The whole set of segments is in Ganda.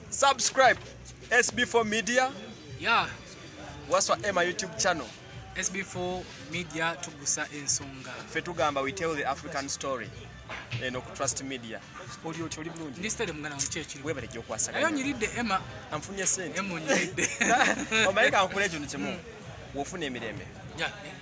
Subscribe SB4 Media. Yeah. Waswa Emma YouTube channel. SB4 Media tugusa ensonga. Ffe tugamba we tell the African story. Eno ku Trust Media. Oli oti oli bulungi. Ndi stade mugana mche kiri. Webale gyo kwasa. Ayo nyiride Emma. Amfunye sente. Emma nyiride. Omaika ankule ekintu kimu. Wofuna emirembe. Yeah.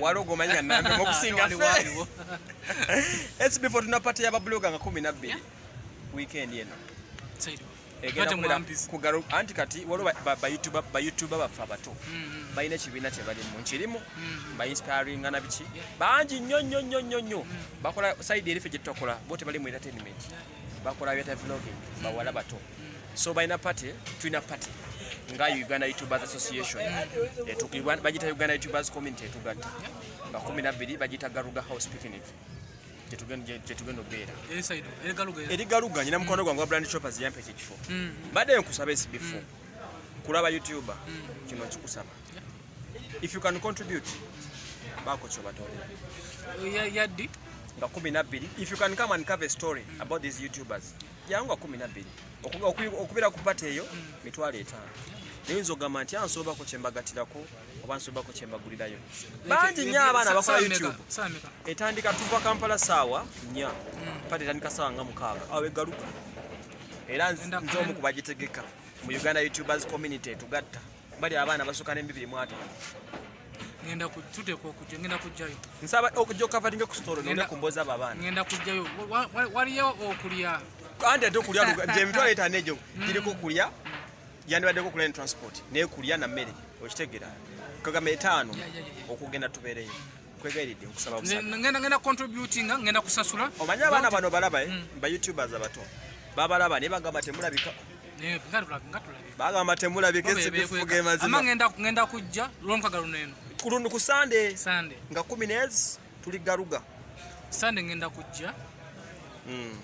waliwo gomanya nambe mukusinga esi before tunapata yababuloga nga kumi nabbiri weekend eno anti kati waliwo bayoutuba baffe abato mm, mm. balina ekibiina kyebalimu nkirimu mm, bainspiringa na biki bangi nnyo nnyo nnyo nnyo nnyo bakola saidi erife gyetutakola bo tebali mu entertainment bakola byata vlogging bawala bato so balina party tulina party nga uganda youtubers association bagita uganda youtubers community etugatta nga kumi nabbiri bagita garuga house picnic gyetugenda obeera eri galuga nyina mukwano gwange wa brand choppers yampa ekyo ekifo mm. mbadde nkusaba esibifo mm. kulaba youtuber mm. kino nkikusaba if you can contribute baako kyobatolera yaddi nga kumi nabbiri if you can come and cover a story about these youtubers yawunga kumi nabbiri okubeera ku pate eyo mitwalo etaano nayinza ogamba nti ansobako kyembagatirako oba nsobako kyembagulirayo bangi nyo abaana bakola youtube etandika tuva kampala saawa nya hmm. pate etandika saawa nga mukaaga awo egaluka era nzomu kubagitegeka mu uganda youtubers community tugatta bali abaana basuka nembibiri mwataano ngenda kututeeka okujja ngenda kujjayo nsaba okujja okavalinga ku sitolo nenda kumboza abo abaana ngenda kujjayo waliyo okulya andi ate okulya gyemitwalo etaano egyo mm. giriko okulya yandibaddeko okulya ne transport naye kulya na mmere okitegera kagamba etaano okugenda tubeereyo nkwegayiridde nkusaba ngenda ngenda contributinga ngenda kusasula omanyi abaana bano balaba eh? mm. ba youtubers abato babalaba naye bagamba temulabika bagamba temulabika esibifuga emazima ngenda kujja lwomukaga luno eno kulundu ku sande nga kumi nezi tuli garuga sande ngenda kujja hmm.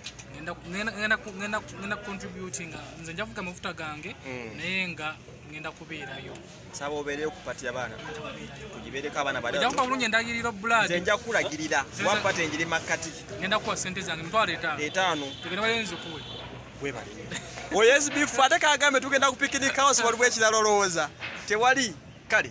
ngenda contributinga nze njavuga amafuta gange hmm. naye nga ngenda kubeerayo nsaba obeereyo ku pati yabaana tugibeereko abaana bajakuba bulungi endagiriro bulad nja kulagirira wapati enjiri makkati ngenda kuwa sente zange mitwalo etaano etaano tugenda bayenzikuwe webale oyo sbf ate kagambe tugenda ku picnic house waliwo ekirala olowooza tewali kale